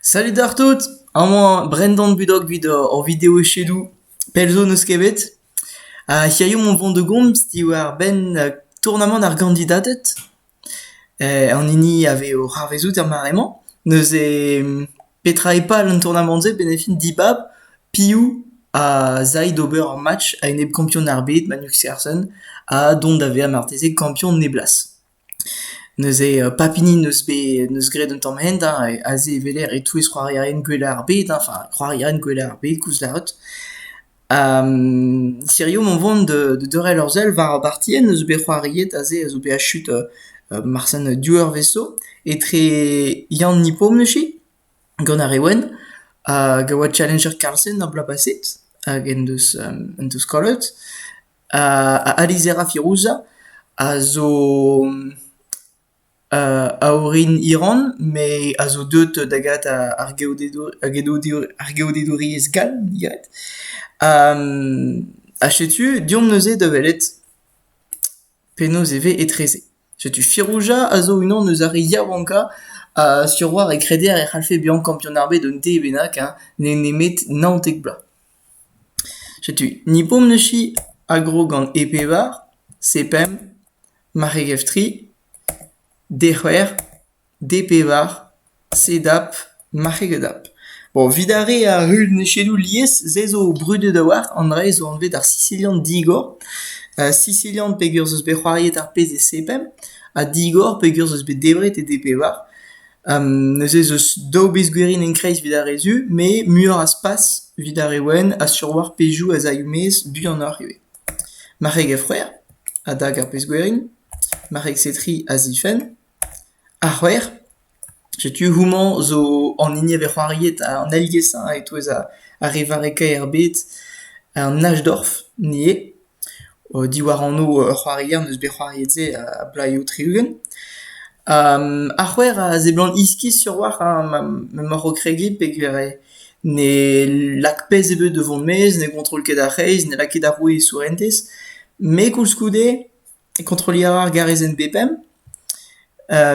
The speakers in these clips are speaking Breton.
Salut d'ar tout! Amañ Brendan Budok 'vit hor video-echedoù. Pell zo n'eus ket bet. Ha hiziv on vont da gomz diwar-benn tournamant ar gandidated. An hini a vez o c'harvezout er mare-mañ. Neuze petra eo pal an tournamant-se benn e fin dibab piv a zay d'ober ur match a-enep kampion ar bed Magnus Carlsen ha dont da vezañ marteze kampion neblas. Neuze pap hini n'eus bet n'eus graet un tamm hent hein, aze e weler e-touez c'hoarierien gwellañ ar bed hein, enfin c'hoarierien gwellañ ar bed koustlaot. Hirio mont vont da da deurel ur sell war ar bartier n'eus bet c'hoariet aze a zo bet achet marsen div eurvezh zo etre Yann Nipon echu gant ar re wenn hag a oa challenger Carlsen ar bloaz paset hag en deus en deus kollet. A lizhera Firuza a zo a orin Iran met a zo deuet da gavet ar geodedouriezh gall digalet. Ha setu deomp neuze da welet penaos e vez etreze. Setu Firuza a zo unan eus ar re yaouankañ sur 'oar e kreder e c'hallfe bezañ kampionad ar bed un dez bennak, nemet naontek bloaz. Setu ni bomm-neuze a gro gant e bevar, se pemp, maregef tri, dec'hwec'h, de-pevar, sedap, marc'hegedap. Bon, 'vid ar re a heul nechedoù lies, se zo brudet a-walc'h, an dra-se zo anvet ar Sisilian digor. Sisilian peger 'z eus bet c'hoariet ar pezh e se pemp, ha digor peger 'z eus bet debret e de-pevar. Neuze ez eus daou bez gwirienn en-kreiz evit ar re zu, met muioc'h a spas evit ar re wenn a sturwalc'h pezhioù a zay o-maez buanoc'h ivez. Marc'heg ha frouezh a dag ar pezh gwirienn, marc'heg setri a zifenn, ar c'hwec'h, setu houmañ zo an hini a vez c'hoariet an aliesañ e-touez ar re varrekañ er bed, an Hachdorf ivez. diwar anv ur c'hoarier n'eus bet c'hoariet-se a-blaioù tri-ugent. Ar c'hwec'h a seblant iskis sur walc'h m'emaoc'h o kregiñ peogwir ne lak pezh ebet da vont maez, ne gontrol ket ar c'hreiz, ne lak ket ar roue e sourentez. Me koulskoude kontrolliñ a ra ar garezenn B-pemp.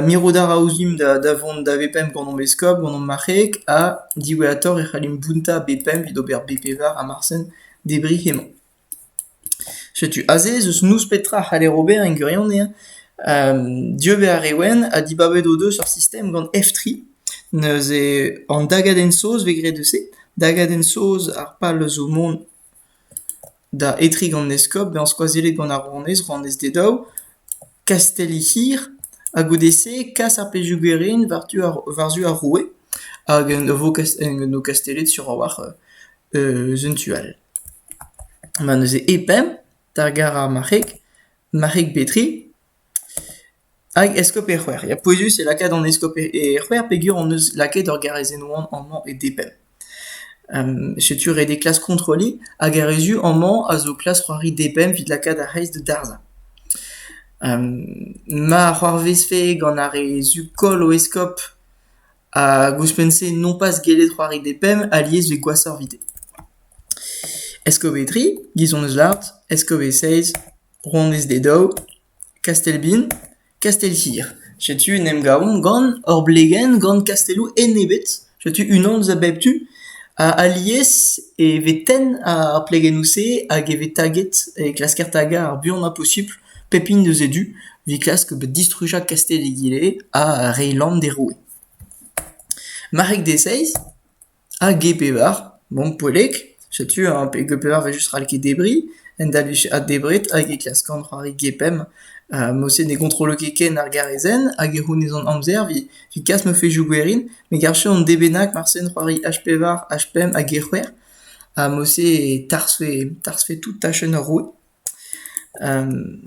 Mirout a ra ouzhimp da vont da V-pemp gant hom eskob, gant hom marc'heeg ha diwezhatoc'h e c'hallimp bountañ B-pemp evit ober B-pevar ha marsen debriñ hemañ. Setu aze ez eus noz petra a c'haller ober en gwirionez hein. Dieu vez ar re wenn ha dibabet o deus ur sistem gant F3 neuze an dagadenn saoz vez graet eus se, dagadenn saoz ar pal zo mont da etriñ gant eskob bezañ skoazellet gant ar rouanez, rouanez d'e daou, kastell he c'hir ha goude-se kas ar pezhioù-gwerin war-du ar war-zu ar roue hag en o kastellet sur a-walc'h eus un tu all. Ma neuze e pemp d'ar gar ar marc'heg, marc'heg Petri, hag eskob e c'hwec'h. Ya pouezus eo lakaat an eskob e c'hwec'h peger hon eus lakaet ur garrezhenn wan amañ e D-pemp. Setu ret eo klask kontrolliñ hag ar re zu amañ a zo klask c'hoari D-pemp evit lakaat ar c'hreiz da darzhañ. Ma c'hoarvezfe gant ar re zu koll o eskob hag ouzhpenn-se nompas gellet c'hoari depemp alies evit gwashoc'h evit. Eskove tri, Gizon eus Lart, Eskove seizh, Rouanez d'e daou, Kastelbin, Kastel-hir. Setu en em gavomp gant hor blegenn, gant kastelloù enebet. Setu unan eus a bep tu. Ha alies e vez tenn ar plegennoù-se hag e vez taget, e klasker tagañ ar buan ma posupl Pep hini eus e du, evit klask distrujañ kastell egile ha re Lann d'e roue. Marrek Deseiz ha Ge Pevar, bon poellek, setu hein, pe Ge Pevar 'vel just ral ket debriñ, en da vije addebret hag e klask an c'hoari Ge Pemp, ha mod-se ne gontrolo ket ken ar garezenn hag e c'hounezont amzer evit kas ma fezhioù gwerin, me garfe an dez bennak marse en c'hoari H Pevar, H Pemp hag E C'hwec'h, ha mod-se e tarzhfe tarzhfe tout tachenn ar roue.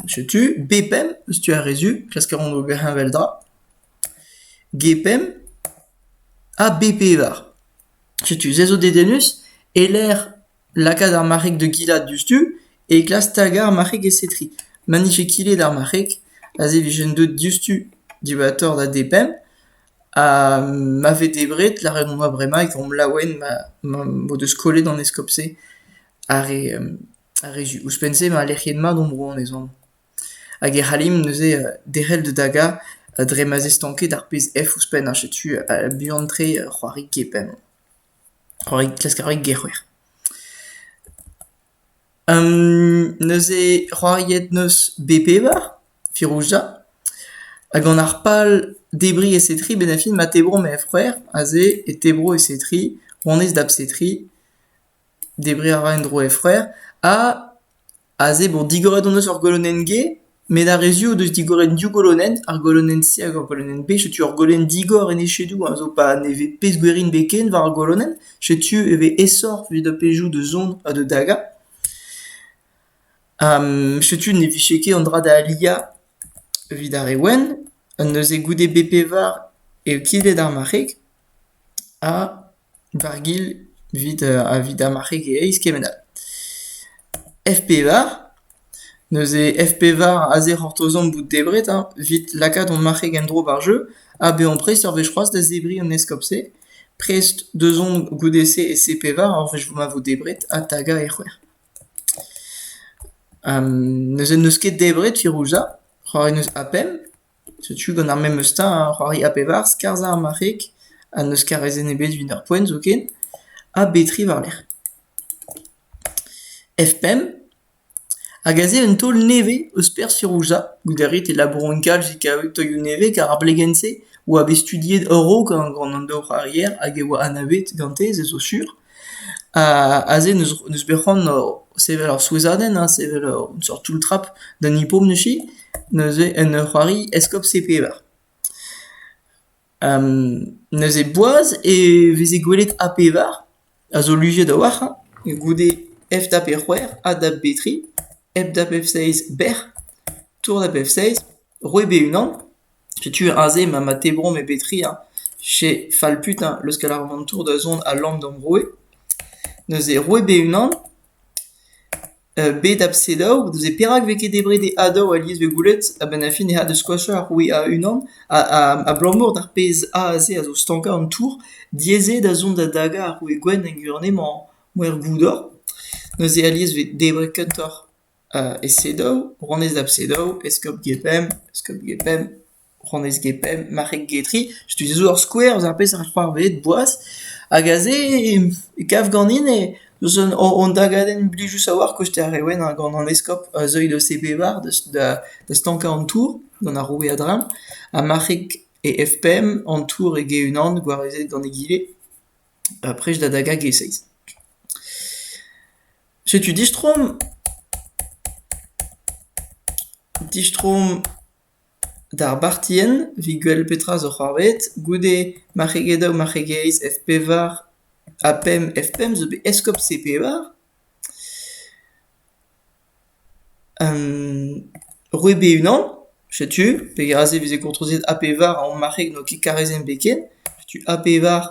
Setu B-pemp eus tu ar re zu. Klask a ran ober heñveldra. G-pemp ha B-pevar. Setu se zo dedennus e-lec'h lakaat ar marc'heg da gilat diouzhtu e klask tagañ ar marc'heg e-setri. Ma 'nije kilet ar marc'heg aze e vijen deuet diouzhtu dibaotoc'h da D-pemp ha ma vez debret lâret on ma bremañ e komp laouen ma m'o deus kollet an eskob-se ar re Ar re zu, ouzhpenn-se emañ lec'hiet mat hom bro, emezon. Hag e c'hallimp neuze derc'hel da dagañ dre ma 'z eo stanket ar pezh F ouzhpenn, ha setu buan-tre c'hoari kepenn. C'hoari, klask c'hoari gec'hwec'h. neuze c'hoariet 'neus B-Pevar, Firouzja, ha gant ar pal debriñ e setri, bennafi ma tebro ma F-c'hwec'h, aze e tebro e setri, honnezh da bsetri, Debriñ a ra en-dro he c'hwec'h ha aze bon digoret hon eus ur golonenn G met ar re-se o deus digoret div golonenn, ar golonenn-se hag ar golonenn B. Setu ur golonenn digor en he chedoù a zo pa ne vez pezh-gwerin bet ken war ar golonenn. Setu e vez aesoc'h evit ar pezhioù da zont ha da dagañ. setu ne vije ket an dra da aliañ evit ar re wenn. Neuze goude B-pevar eo kilet ar marc'heg ha... Bargil evit a vit amarc'heg e-eizh kement all. F pevar, neuze F pevar aze c'hortozomp bout debret hein, evit lakaat hon marc'heg en-dro ba'r jeu ha bezañ prest ur wech c'hoazh da zebriñ an eskob-se. Prest deus on goude-se e C pevar ur wech ma vo debret ha tagañ e c'hwec'h. neuze n'eus ket debret firouz ha c'hoari n'eus ha pemp. Setu gant ar memes teñ ar c'hoari A pevar, skarzhañ ar marc'heg ha n'eus karezenn ebet evit ar poent zoken, ha B3 war-lerc'h. F5 hag aze un taol nevez eus perzh Firouzja goude ret e labouron kalz e kaved taolioù nevez kar ar blegenn-se oa bet studiet a-raok gant an daouc'hoarier hag e oa anavet gante se zo sur. Aze n'eus bet c'hoant sevel ur souezhadenn ha sevel un seurt toull-trap d'an hippom neuze, neuze en ur c'hoari eskob C-Pevar. Neuze boaz e veze gwelet A-Pevar a zo luziet a-walc'h hein, goude F dap E c'hwec'h ha dap B tri, F dap F seizh bec'h, tour dap F seizh. Roet eo e-unan ? Setu aze ma ma tebrom e bep tri ha che fall putain leuskel ar vantour da zont al lamm d'am roue. Neuze roet eo e-unan. Bet a selaou, neuze perak vez ket debret e adav alies vez gwelet a-benn ar fin ec'h a da skoachañ ar roue a-unan abalamour d'ar pezh aze a zo stankañ an tour. Diaes eo da zont da dagañ ar roue gwenn en gurunenn-mañ er goudor. Neuze alies vez debret kentoc'h. E Sedow, rouanez da bSedow, eskob Gepemp, eskob Gepemp, rouanez Gepemp, marc'heg Getry. Setu se zo ur skouer eus ar pezh a c'hoarvezed boas. Hag aze e kav ganin eus hon dagadenn blijus a-walc'h kosteer ar re wennañ gant an eskob Zeuy de Sebevar da stankañ an tour gant ar roue Adram ha marc'heg e F-Pemp an tour eo e-unan gwarezet gant egile. Ha prest da dagañ e-seiz. Setu distroomp. Distroomp d'ar bartienn, 'vit gwel petra zo c'hoarvezet, goude marc'heged daou marc'hegeiz F-pevar ha pemp F-pemp zo bet eskob C-pevar. Roue be-unan, setu peg aze e veze kontrozet A pevar a marc'heg n'oa ket karrezenn-be ken. Setu A pevar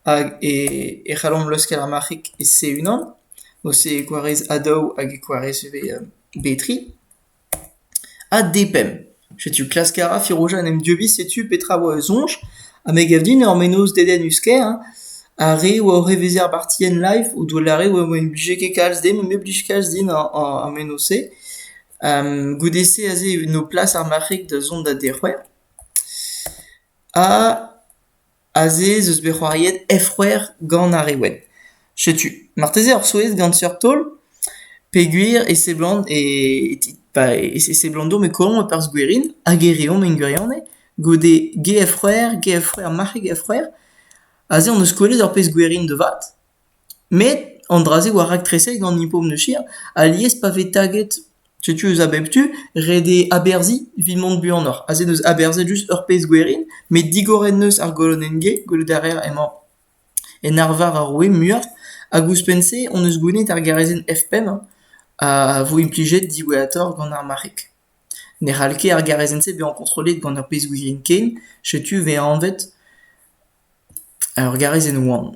hag e c'hallomp leuskel ar marc'heg e se unan. Ose e gwarez A daou hag e gwarez ivez B tri. Ha depemp. Setu klask a ra Firoza en em dieubiñ, setu petra a oa e soñj. Ha me gav din ur mennozh dedennus kaer hein, ar re a oa oc'h evezhiañ ar partienn live o doa lâret e oa ne blije ket kalz din, me blij kalz din ar ar ar mennozh-se. Goude-se aze e no plas ar marc'heg da zont da dec'houañ. Ha Aze ez eus bet c'hoariet F-c'hwec'h gant ar re wenn. Setu, marteze ur souezh gant seurt taol peogwir e seblant e pa e seblant deomp e kouezhomp e-perzh gwerin hag e reomp en gwirionez goude G-F-c'hwec'h, G-F-c'hwec'h, marc'heg F-c'hwec'h. Aze hon eus kwelet ur pezh gwerin da vat. Met an dra-se war raktrese gant Hippo Neuchir alies pa vez taget setu eus a bep tu ret eo aberzhiñ evit mont buanoc'h. Aze en deus aberzhet just ur pezh gwerin met digoret 'neus ar golonenn-ge, gwelout a reer emañ en arvar ar roue muioc'h hag ouzhpenn-se hon eus goulennet ar garezenn F5 a vo implijet diwezhatoc'h gant ar marc'heg. Ne c'hall ket ar garezenn-se bezañ kontrollet gant ur pezh-gouirien ken, setu 'vez anvet Ur garezenn wan,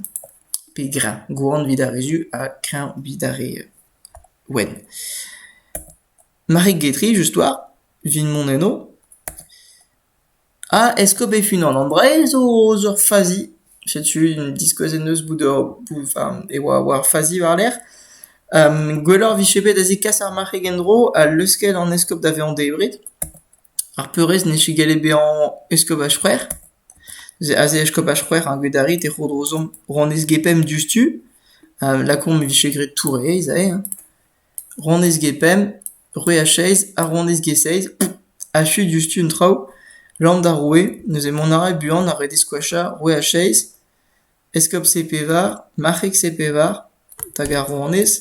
pe greñv, gwan evit ar re zu ha kreñv evit ar re wenn. Marig Getry, just war, evit mont enno. Ha Eskob-Efin an Ambrael zo eus ur fazi. Setu diskouez en deus bout ur enfin e oa war fazi war-lerc'h. Gwelloc'h 'vije bet da zekas ar marc'heg en-dro ha leuskel an eskob da vezañ debret. Ar peurrest n'eo ket gallet bezañ eskopaj C'hwec'h. Aze eskopaj C'hwec'h ar Gwedariz e Rodrozomp rouanez Gepemp diouzhtu. Lakaomp e vije graet Touraez aze hein. Rouanez Gepemp, roue Acheiz ha rouanez Geseiz achu diouzhtu an traoù. Land ar roue, neuze mont a ra buan ar redez gwashañ roue Acheiz, eskob Sepevar, marc'heg Sepevar, hag ar rouanez.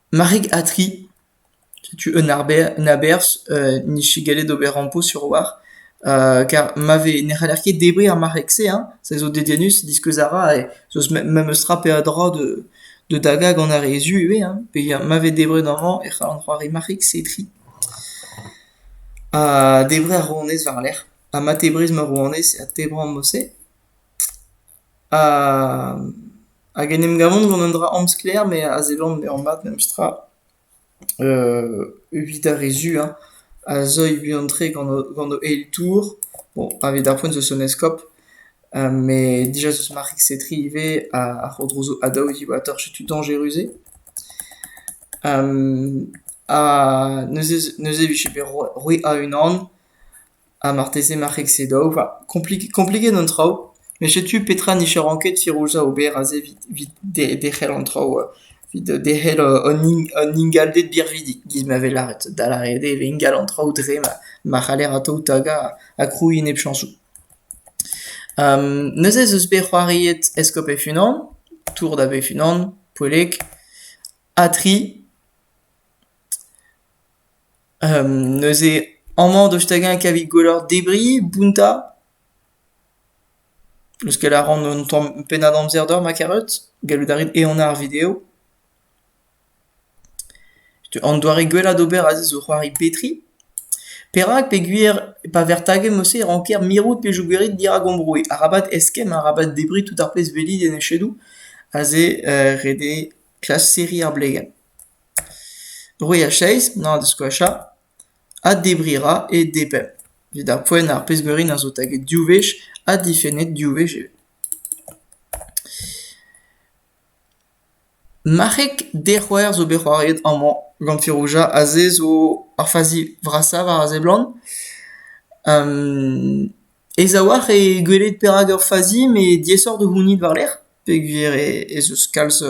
Marig-Atri, setu un aberzh n'int ket gallet ober rampo sur-walc'h kar ma vez ne c'haller ket debriñ ar marc'heg-se hein, se zo dedennus, diskouez a ra zo memestra peadra da dagañ gant ar re zu ivez hein, peogwir ma vez debret amañ e c'hall an c'hoari marc'heg setri. Ha debriñ ar rouanez war-lerc'h ha ma tebriz ma rouanez ha tebriñ ar mod-se. hag en em gavan gant un dra amsklaer me a seblant bezañ mat memestra evit ar re zu hein a zeuy buan-tre gant o gant o eil tour bon pa vez d'ar poent eus un eskob met dija eus ma rekse-tri ivez a ro dro a daol diwatoc'h setu dañjerus-se ha neuze neuze e vije bet roet a-unan Ha marteze marc'heg-se da ober kompliget an traoù met setu petra n'ije ranket Firouzа ober aze evit derc'hel an traoù evit derc'hel an ingalded birvidik giz ma vez lâret da lâret eo e vez ingal an traoù dre ma c'haller atav tagañ ha krouiñ nepchañsoù. Neuze ez eus bet c'hoariet Eskob e-unan, Tour da Be-unan, Poellek, ha tri. neuze amañ deus hag-eñ kavit gwelloc'h debriñ, bountañ, leuskel a ran un tamm pennad amzer deoc'h ma karet, gallout a rit ehanañ ar video. An doare gwellañ d'ober aze zo c'hoari petriñ. Perak peogwir pa vec'h taget mod-se e ranker mirout pe jougerit dirak ambroui. Arabat eskemm, arabat debriñ tout ar pezh 'velit en echedoù, aze ret eo klask serriñ ar blegenn. Bruilh a-zeiz, n'hañ da skoachañ, ha debriñ 'ra e nepell, evit ar poent ar pezh-gwerin a zo taget div wech ha difennet div wech ivez. Marc'heg dec'houer zo bet c'hoariet amañ gant Firouja aze zo ar fazi vrasañ war a seblant. aes a-walc'h eo gwelet perak ur fazi met diaesoc'h da c'hounit war-lerc'h. Peogwir ez eus kalz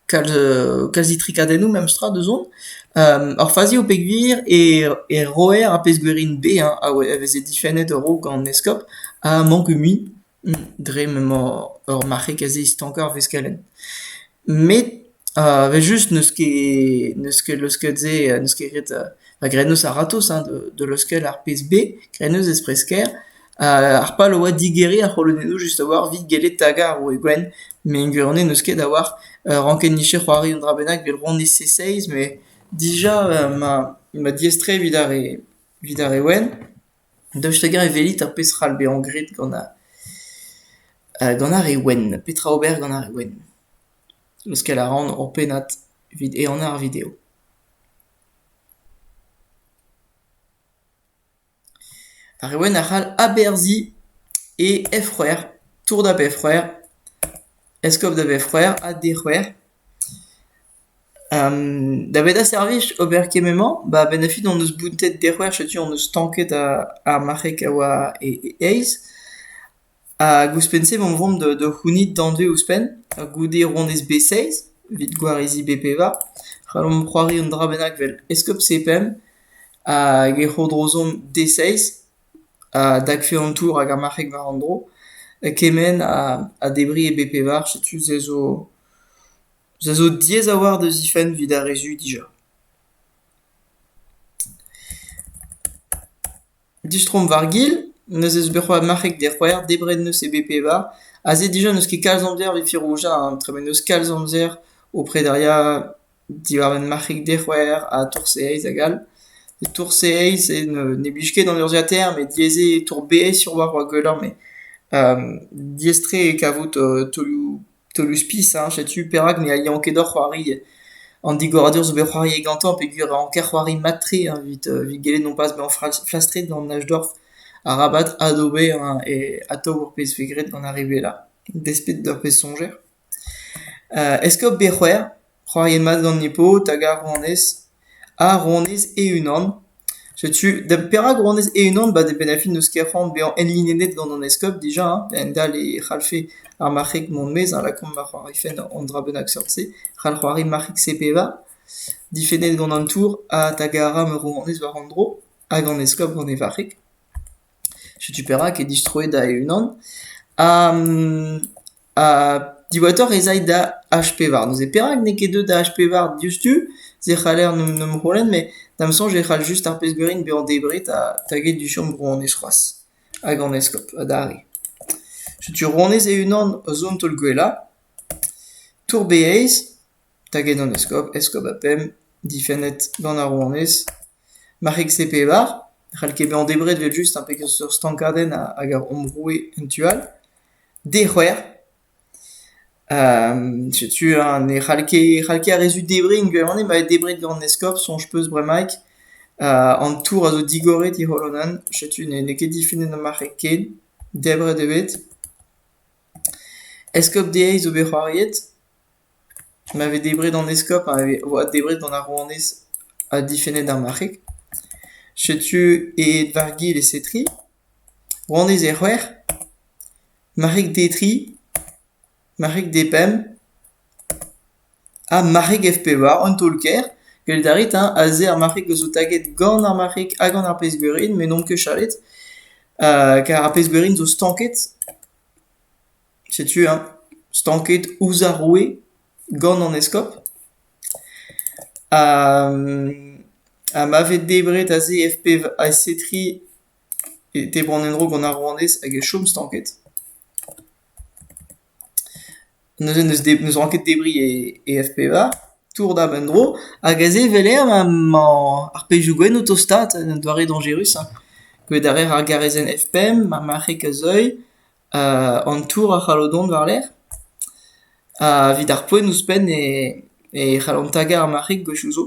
kalz itrikadennoù memestra da zont. Ar fazi eo peogwir e roer ar pezh-gwerin baeañ a veze difennet a-raok an eskob a manke mui dre m'emañ ur marc'heg aze stankañ ar veskelenn. Met evel-just n'eus ket n'eus ket leusket-se n'eus ket ret graet n'eus a-ratozh da leuskel ar pezh-bae. Graet n'eus ez-presker. Ar pal a oa digeriñ ar c'holonennoù just a-walc'h evit gellet tagañ ar roue gwenn met en gwirionez n'eus ket a-walc'h rankenniche c'hoari un dra bennak evit roniñ C-seiz met dija ma diaes-tre evit ar re evit ar re wenn daoust hag-eñ e welit ar pezh c'hall bezañ graet gant ar gant ar re wenn petra ober gant ar re wenn leuskel a ran ur pennad evit ehanañ ar video. Ar reolenn a c'hall aberzhiñ e efc'hwer, tour da befc'hwer, eskob da vefc'hwer ha dec'hwer. Daved a servij ober kement-mañ ba a-benn da fin hon eus bountet dec'hwer, setu hon eus stanket ar marc'heg a oa e e-eizh. Hag ouzhpenn-se emañ o vont da da c'hounit danvez ouzhpenn goude ronez B6 evit gwarizi B5. C'hallomp c'hoari un dra bennak vel eskob C5 hag e c'hodrozomp D6 ha dakfe an tour hag ar marc'heg war an dro kement ha debriñ e B5. Setu se zo se zo diaes a-walc'h da zifenn evit ar re zu dija. Distroomp war-gil, neuze eus berc'hoù ar marc'heg d'e c'hwec'h, debret 'neus e bep-pevar, aze dija n'eus ket kalz amzer evit firouzhañ an tremen, n'eus kalz amzer o prederiañ diwar un marc'heg d'e c'hwec'h ha tour-seizh hag all. Tour-seizh ne blij ket d'an urzhiataer met diaes eo tour-beizh sur war ar gwellañ met diaes-tre eo kavout taolioù Teulus-pisa, setu perak ne alian ket hor c'hoari. An digoradur zo bet c'hoariet gantañ peogwir e ranker c'hoari mat-tre evit evit gellet nompas bezañ flas- flastret gant Najdorf arabat adober hein, e atav ur pezh vez graet gant ar re wellañ, despet d'ur pezh soñjer. Est-ce que bet c'hwec'h C'hoariet mat gant he paotr hag ar rouanez, ha rouanez e-unan. Setu, da perak rouanez e-unan ? Ba da benn ar fin n'eus ket c'hoant bezañ enlinennet gant an eskob dija hein, a-hend-all e c'hallfe ar marc'heg mont maez ha lakaomp da c'hoarifen an dra bennak seurt-se. C'hall c'hoari marc'heg-se pevar, difennet gant an tour ha tagara ma rouanez war an dro, hag an eskob gant e varc'heg. Setu perak eo distroet da e-unan. Ha Ha diwezhatoc'h ez ay da H-pevar. Neuze perak n'eo ket deuet da H-pevar diouzhtu? Se c'haller n'em n'em c'houlenn, met da'm soñj e c'hall just ar pezh gwerin bezañ debret ha taget du chom rouanez c'hoazh. Hag an eskob adarre. Setu rouanez e-unan zont taol-gwellañ. Tour-Beyaz, taget an eskob, eskob ha pemp, difennet gant ar rouanez. Marc'heg-se-pevar, ne c'hall ket bezañ debret 'vel just, ha peseurt stankadenn hag ar hom roue en tu all. Dec'hwer. setu eñ ne c'hall ket e c'hall ket ar re zud debriñ gwirion emañ bet debret gant an eskob soñj 'peus bremaik. an tour a zo digoret he c'holonan setu n'eo ket difennet ar marc'heg ken, debret eo bet. Eskob dezhi zo bet c'hoariet, ma vez debret an eskob a oa debret gant ar rouanez ha difennet ar marc'heg. Setu aet war gil e setri. Honnezh eo c'hwec'h, marc'heg d' e dri, marc'heg d' e pemp ha marc'heg F pevar, un taol-kaer. Gellout a rit hein aze ar marc'heg a zo taget gant ar marc'heg hag gant ar pezh-gwerin met n' omp ket chalet kar ar pezh-gwerin zo stanket. Setu hein stanket ouzh ar roue gant an eskob. Ha ma vez debret aze F pevar, S3 e tebran en-dro gant ar rouanez hag e chom stanket. Neuze n'eus ran ket debriñ e F-pevar, tour dab en-dro, hag aze e emañ ar pezhioù gwenn o tostaat, un doare dañjerus hein. Gwelet a raer ar garezenn F-pemp, ma marc'heg a-zeuil, an tour a c'hallo dont war-lerc'h, evit ar poent ouzhpenn e c'hallont tagañ ar marc'heg gwechoù 'zo.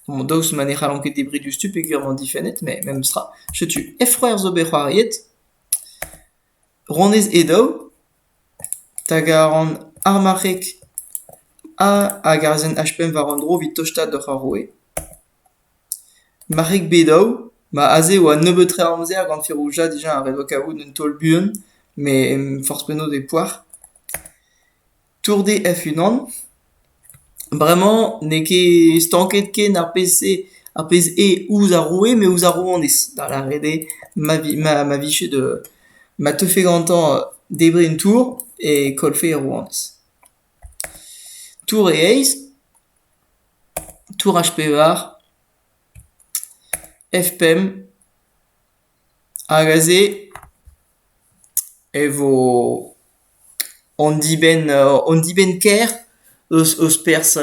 daoust ma ne c'hallont ket debriñ diouzhtu peogwir emañ difennet met memestra setu Efc'hoer zo bet c'hoariet Ronez Edaou hag a ran ar marc'heg A hag arazenn H5 war un dro evit tostaat doc'h ar roue Marc'heg B-daou ma aze e oa nebeut tre amzer gant Ferouja dija a-hed oa kaout un taol buan met forzh penaos e poar tourde hec'h-unan. Bremañ n'eo ket stanket ken ar pezh-se ar pezh eo ouzh ar roue met ouzh ar rouanez, da lâret eo ma vi ma ma vije da ma teufe gantañ debriñ un tour e kollfe ar rouanez. Tour e eizh, tour H pevar, F pemp, Hag aze e vo hon dibenn hon dibenn-kaer eus eus perzh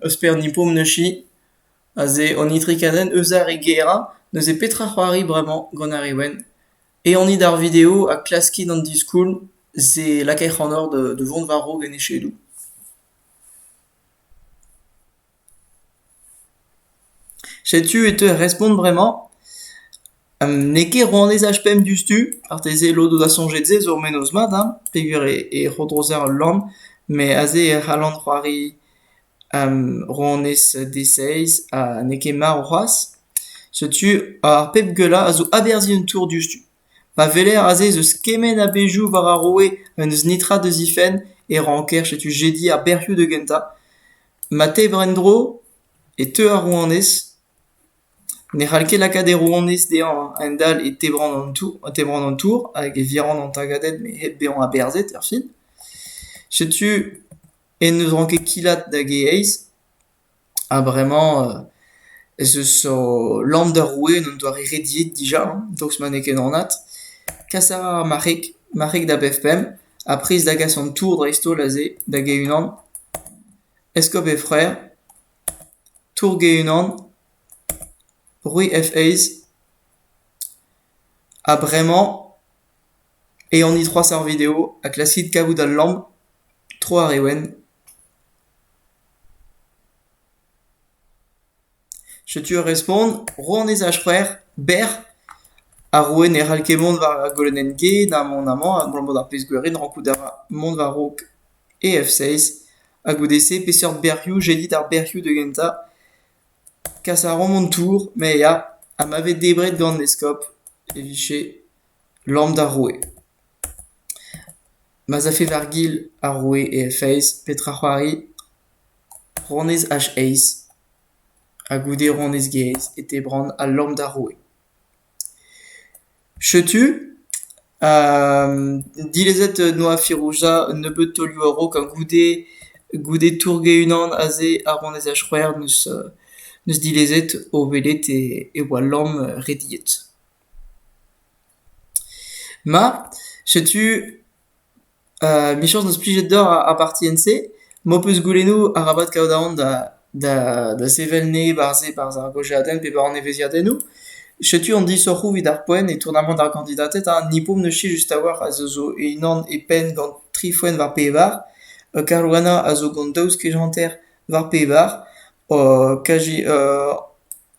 eus perzh an Hipponoshi aze an itrik-azen eus ar re gaerañ. Neuze petra c'hoari bremañ gant ar re wenn? Ehanit ar video ha klaskit an diskoulm se lakait c'hanoc'h da vont war-raok en echedoù. Setu e teu ar respont bremañ. n'eo ket rouanez H5 diouzhtu, marteze lod eus ar soñjet-se zo ur mennozh mat hein, peogwir e rodrozer ul lann, met aze e c'hallan c'hoari rouanez D6 ha n'eo ket marv c'hoazh. Setu ar pep gwellañ a zo aberzhiñ un tour diouzhtu. Ma weler aze ez eus kement a bezhioù war ar roue ha n'eus netra da zifenn e ranker setu jediñ ar bec'hioù da gentañ. Ma tevr en-dro e teu ar rouanez. Ne c'hall ket lakaat e rouanez dezhañ a-hend-all e tebran an tour, e tebran an tour hag e viran an tagadenn me hep bezañ aberzhet erfin. Setu en deus ranket kilat hag e eizh ha bremañ ez eus o lamm d'ar roue en un doare rediet dija, daoust ma n'eo ket anat. Kas a ra ar marc'heg, marc'heg da bep pemp. Ha prest da gas an tour dreist-holl aze, da Ge-Unan. Eskob he c'hwreur, Tour Ge-Unan, Roue hec'h aez. Ha bremañ eh anit c'hoazh ar video ha klaskit kavout al lamm tro ar re wenn. Setu ur respont, rouanez ar c'hwec'h bec'h. Ar roue ne c'hall ket mont war ar golonenn G na mont amañ abalamour d'ar pezh gwirion rankout a ra mont war-raok EF6. Ha goude-se peseurt bec'hioù jedit ar bec'hioù da gentañ? Kas a ran an tour, me ya, ha ma vez debret gant eskob e vije Lamm d'ar roue. Ma'z afe war gil ar roue e feiz, petra c'hoari? Ronez H-Eiz ha goude ronez Gaez e tebran al lamm d'ar roue. Setu dilezet noa Firouza un nebeud taolioù a-raok ha goude goude tourge unan aze ar ronez H-C'hwec'h 'neus dilezet o welet e oa lamm rediet. Ma, setu michañs n'eus plijet deoc'h ar partienn-se, m'ho peus goulennoù arabat kaout aon da sevel neb aze barzh ar gaozeadenn pe war an evezhiadennoù. Setu an disoc'hoù evit ar poent e tournamant ar gandidated ha ni 'po neuse just a-walc'h a zo unan e penn gant tri foenn war pevar, Caruana a zo gant daou skej hanter war pevar, KG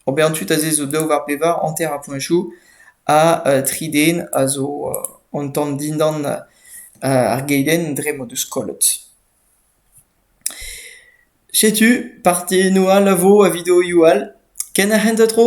Ober tud aze zo daou war bevar, hanter ar puñsoù, ha tri den a zo an tamm dindan ar geidenn dre m'o deus kollet. Setu partennoù all a vo a videoioù all, ken ar c'hentañ tro.